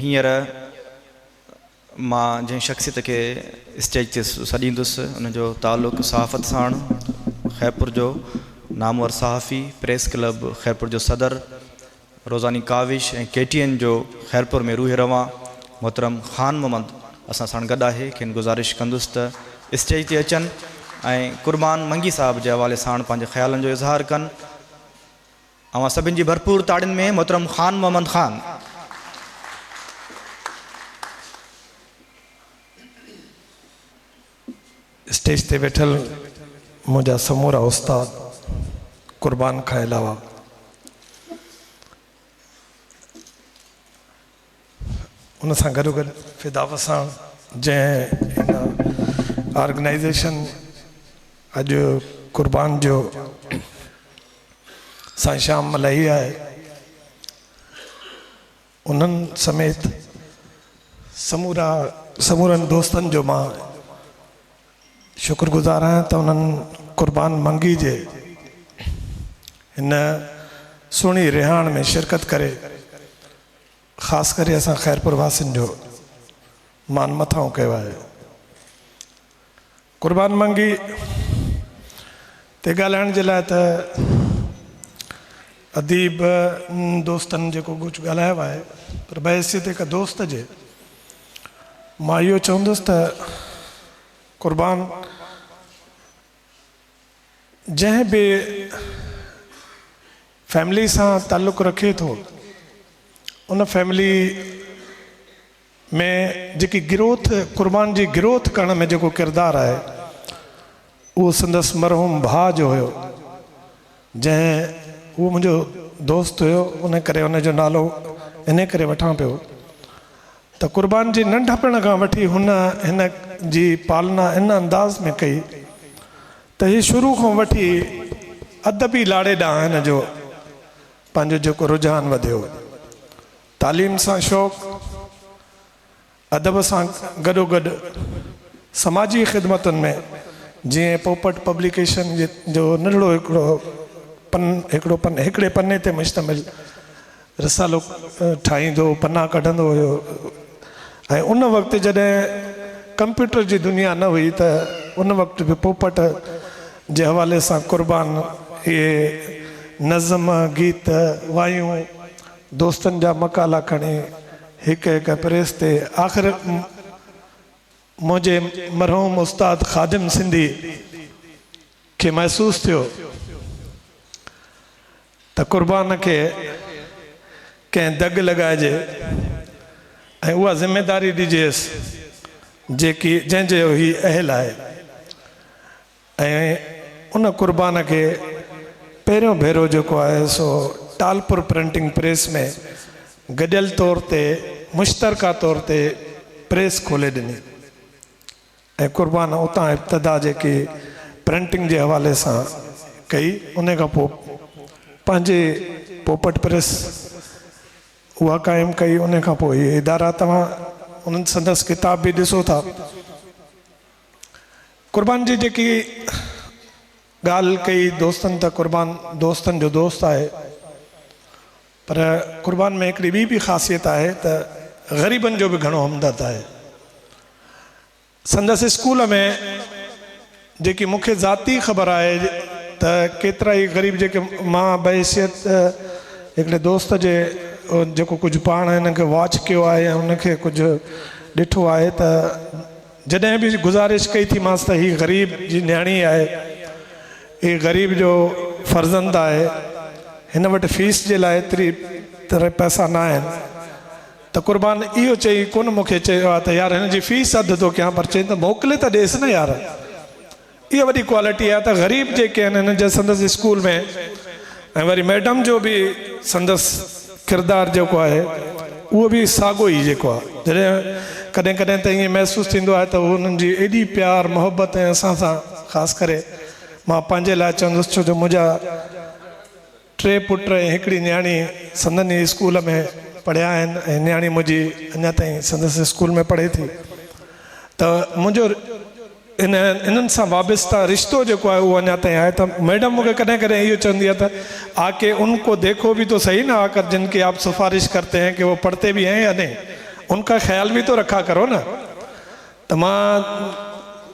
هينئر مان جنهن شخصيت کي اسٽيج تي سڏيندس ان جو تعلق صحافت ساڻ، خيرپور جو نامور صحافي، پريس ڪلب خيرپور جو صدر، روزاني ڪاوش ۽ ڪي ٽي اين جو خيرپور ۾ روح روان محترم خان محمد اسان ساڻ گڏ آهي، کين گذارش ڪندس ته اسٽيج تي اچن ۽ قربان منگي صاحب جي حوالي ساڻ پنهنجي خيالن جو اظهار ڪن. اوهان سڀن جي ڀرپور تاڙين ۾ محترم خان محمد خان اسٽيج تي ويٺل منهنجا سمورا استاد قربان کان علاوه ان سان گڏوگڏ فدا وساڻ جنهن هن آرگنائيزيشن اڄ قربان جو سائين شام ملائي آهي انهن سميت سمورا سمورن دوستن جو مان شڪر گذار آهيان ته انهن قربان منگي جي هن سهڻي رهاڻ ۾ شرڪت ڪري خاص ڪري اسان خيرپور واسين جو مان مٿانهون ڪيو آهي. قربان منگي تي ڳالهائڻ جي لاء ته اديب دوستن جيڪو ڪجهه ڳالهايو آهي پر بحيثيت هڪ دوست جي مان اهو چوندس ته قربان جنهن به فيملي سان تعلق رکي ٿو ان فيملي ۾ جيڪي گروٿ قربان جي گروٿ ڪرڻ ۾ جيڪو ڪردار آهي اهو سندس مرحوم ڀاء جو هيو جنهن اهو منهنجو دوست هيو ان ڪري ان جو نالو ان ڪري وٺان پيو ته قربان جي ننڍپڻ کان وٺي هن هن جي پالنا ان انداز ۾ ڪئي ته هي شروع کان وٺي ادبي لاڙي ڏانهن هن جو پنهنجو جيڪو رجحان وڌيو تعليم سان شوق ادب سان گڏوگڏ سماجي خدمتن ۾ جيئن پوپٽ پبليڪيشن جو ننڍڙو هڪڙو پن هڪڙو پن هڪڙي پني تي مشتمل رسالو ٺاهيندو، پنا ڪڍندو هيو ۽ ان وقت جڏهن ڪمپيوٽر جي دنيا نه هئي ته ان وقت به پوپٽ جي حوالي سان قربان اهي نظم، گيت، وايون، دوستن جا مقالا کڻي هڪ هڪ پريس تي آخر منهنجي مرحوم استاد خادم سنڌي کي محسوس ٿيو ته قربان کي ڪنهن دڳ لڳائجي ۽ اها ذميداري ڏجيس جيڪي جنهن جي هي اهل آهي ۽ ان قربان کي پهريون ڀيرو جيڪو آهي سو ٽالپور پرنٽنگ پريس ۾ گڏيل طور تي مشترڪه طور تي پريس کولي ڏني. ۽ قربان اتان ابتدا جيڪي پرنٽنگ جي حوالي سان ڪئي انهي کان پوء پنهنجي پوپٽ پريس اها قائم ڪئي انهي کان پوء اهي ادارا توهان انهن سندس ڪتاب به ڏسو ٿا قربان جي جيڪي ڳالهه ڪئي دوستن ته قربان دوستن جو دوست آهي پر قربان ۾ هڪڙي ٻي به خاصيت آهي ته غريبن جو به گهڻو همدرد آهي سندس اسڪول ۾ جيڪي مون کي ذاتي خبر آهي ته ڪيترائي غريب جيڪي مان بحيثيت هڪڙي دوست جي جيڪو ڪجهه پاڻ هن کي واچ ڪيو آهي يا هن کي ڪجهه ڏٺو آهي ته جڏهن به گذارش ڪئي ٿي مانس ته هي غريب جي نياڻي آهي هي غريب جو فرزند آهي هن وٽ فيس جي لاء ايتري تري پئسا نه آهن ته قربان اهو چئي ڪونه مون کي چيو آهي ته يار هن جي فيس اڌ ٿو ڪيان پر چئين ته موڪلي ته ڏيس نه يار اها وڏي ڪوالٽي آهي ته غريب جيڪي آهن هن جا سندس اسڪول ۾ ۽ وري ميڊم جو به سندس ڪردار جيڪو آهي اهو به ساڳو ئي جيڪو آهي جڏهن ڪڏهن ڪڏهن ته ائين محسوس ٿيندو آهي ته هنن جي ايڏي پيار محبت ۽ اسان سان خاص ڪري مان پنهنجي لاء چوندس ڇو جو منهنجا ٽي پٽ ۽ هڪڙي نياڻي سندن ئي اسڪول ۾ پڙهيا آهن ۽ نياڻي منهنجي اڃا تائين سندس اسڪول ۾ پڙهي ٿي ته منهنجو ان انهن سان وابسته رشتو جيڪو آهي اهو اڃا تائين آهي ته ميڊم مون کي ڪڏهن ڪڏهن اهو چوندي آهي ته آ ڪي ان ڪو ديکو به تو صحيح نه آ ڪر جن ڪي آپ سفارش ڪرتي هين ڪي هو پڙهتي به هين يا نهين ان ڪا خيال به تو رکا ڪرو نه ته مان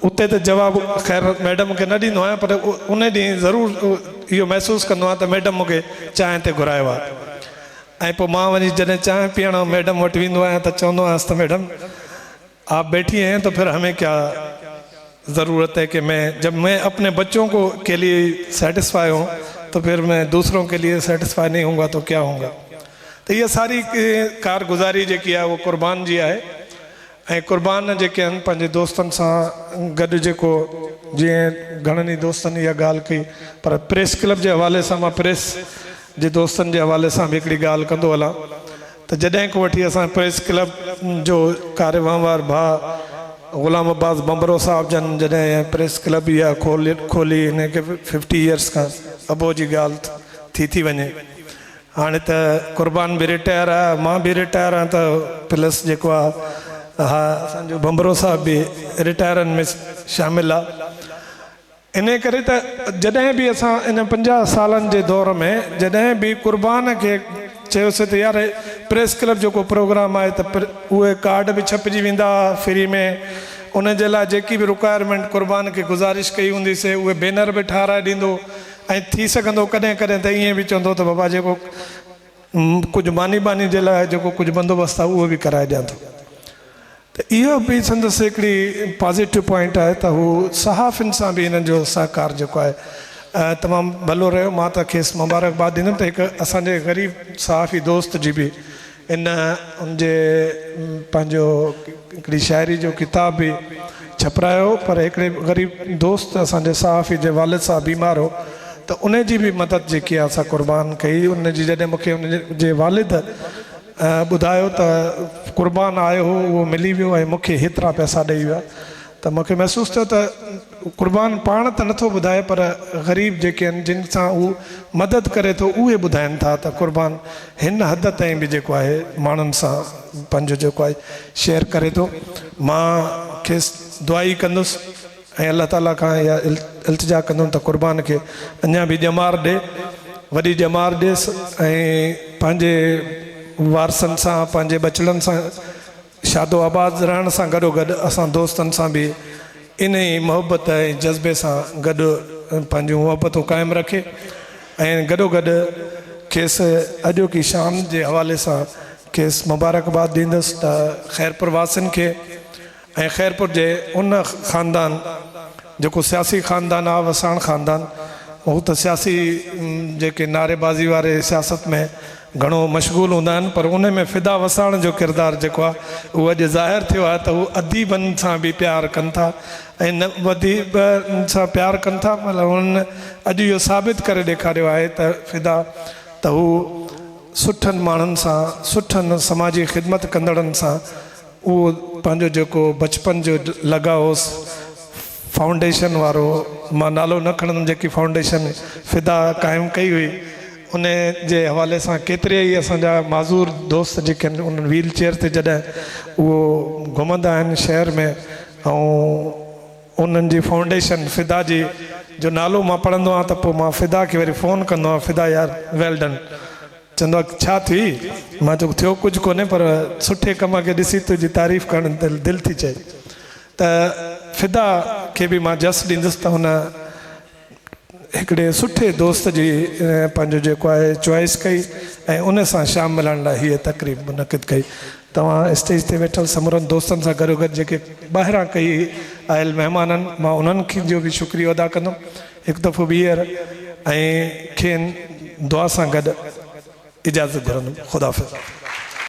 اتي ته جواب خير ميڊم کي نه ڏيندو آهيان پر ان ڏينهن ضرور اهو محسوس ڪندو آهيان ته ميڊم مون کي چانهه تي گهرايو آهي ۽ پوء مان وڃي جڏهن چانهه پيئڻ ميڊم وٽ ويندو آهيان ته چوندو آهيانس ته ميڊم آپ بيٺي هين تو پھر همين ڪيا ضرورت هي ڪي مين جب مين اپني بچون ڪو ڪي ليئي سيٽسفائي هون تو پھر مين دوسرون ڪي ليئي سيٽسفائي نهين هونگا تو ڪيا هونگا ته اها ساري ڪارگذاري جيڪي آهي اها قربان جي آهي ۽ قربان جيڪي هن پنهنجي دوستن سان گڏ جيڪو جيئن گهڻن ئي دوستن اها ڳالهه ڪئي پر پريس ڪلب جي حوالي سان مان پريس جي دوستن جي حوالي سان به هڪڙي ڳالهه ڪندو هلان ته جڏهن کان وٺي اسان پريس ڪلب جو ڪاري وهنوار ڀاء غلام عباس ڀنڀرو صاحب جن جڏهن اها پريس ڪلب اها کولي ان کي ففٽي يئرس کان ابو جي ڳالهه ٿي ٿي وڃي هاڻي ته قربان به رٽائر آ مان به رٽائر آ ته پلس جيڪو آ اها اسان جو ڀنڀرو صاحب به رٽائرن ۾ شامل آ انهي ڪري ته جڏهن به اسان ان پنجاهه سالن جي دور ۾ جڏهن به قربان کي چيوسي ته يار پريس ڪلب جو ڪو پروگرام آهي ته اهي ڪارڊ به ڇپجي ويندا ها فري ۾ ان جي لاء جيڪي به رڪوائرمينٽ قربان کي گذارش ڪئي هوندي سي اهي بينر به ٺاهرائي ڏيندو ۽ ٿي سگهندو ڪڏهن ڪڏهن ته ائين به چوندو ته بابا جيڪو ڪجهه ماني ٻاني جي لاء جيڪو ڪجهه بندوبست آهي اهو به ڪرائي ڏيان ٿو. ته اهو به سندس هڪڙي پازيٽو پوائنٽ آهي ته هو صحافين سان به هنن جو سهڪار جيڪو آهي تمام ڀلو رهيو مان ته کيس مبارڪباد ڏيندم ته هڪ اسان جي غريب صحافي دوست جي به ان ان جي پنهنجو هڪڙي شاعري جو ڪتاب به ڇپرايو پر هڪڙي غريب دوست اسان جي صحافي جي والد صاحب بيمار هو ته ان جي به مدد جيڪي آهي سا قربان ڪئي ان جي جڏهن مون کي ان جي والد ٻڌايو ته قربان آيو هو اهو ملي ويو ۽ مون کي هيترا پئسا ڏئي ويا ته مون کي محسوس ٿيو ته قربان پاڻ ته نٿو ٻڌائي پر غريب جيڪي آهن جن سان هو مدد ڪري ٿو اهي ٻڌائين ٿا ته قربان هن حد تائين به جيڪو آهي ماڻهن سان پنهنجو جيڪو آهي شيئر ڪري ٿو مان کيس دعا ئي ڪندس ۽ الله تعالي کان اها التجا ڪندم ته قربان کي اڃا به ڄمار ڏي وڏي ڄمار ڏيس ۽ پنهنجي وارثن سان پنهنجي ٻچڙن سان شادو آباد رهڻ سان گڏوگڏ اسان دوستن سان به انهي محبت ۽ جذبي سان گڏ پنهنجون محبتون قائم رکي ۽ گڏوگڏ کيس اڄوڪي شام جي حوالي سان کيس مبارڪباد ڏيندس ته خيرپور واسين کي ۽ خيرپور جي ان خاندان جيڪو سياسي خاندان آ وساڻ خاندان هو ته سياسي جيڪي نعري بازي واري سياست ۾ گهڻو مشغول هوندا آهن پر ان ۾ فدا وساڻ جو ڪردار جيڪو آهي اهو اڄ ظاهر ٿيو آهي ته هو اديبن سان به پيار ڪن ٿا ۽ اديبن سان پيار ڪن ٿا پر هنن اڄ اهو ثابت ڪري ڏيکاريو آهي ته فدا ته هو سٺن ماڻهن سان سٺن سماجي خدمت ڪندڙن سان اهو پنهنجو جيڪو بچپن جو لڳاء هوس فائونڊيشن وارو، مان نالو نه کڻندم، جيڪي فائونڊيشن فدا قائم ڪئي هئي، ان جي حوالي سان ڪيتريا ئي اسان جا معذور دوست جيڪي آهن انهن ويل چيئر تي جڏهن اهو گهمندا آهن شهر ۾ ۽ انهن جي فائونڊيشن فدا جي جو نالو مان پڙهندو آهيان ته پوء مان فدا کي وري فون ڪندو آهيان فدا يار ويل ڊن. چوندو آ ڇا ٿئي؟ مان چيو ٿيو ڪجهه ڪونهي پر سٺي ڪم کي ڏسي تنهنجي تعريف ڪرڻ تي دل ٿي چئي ته فدا کي به مان جس ڏيندس ته هن هڪڙي سٺي دوست جي پنهنجو جيڪو آهي چوائس ڪئي ۽ ان سان شام ملهاڻ لاء هيء تقريب منعقد ڪئي توهان اسٽيج تي ويٺل سمورن دوستن سان گڏوگڏ جيڪي ٻاهران ڪئي آيل مهمانن مان انهن جو به شڪريو ادا ڪندم هڪ دفعو ٻيهر ۽ کين دعا سان گڏ اجازت گهرندم خداحافظ.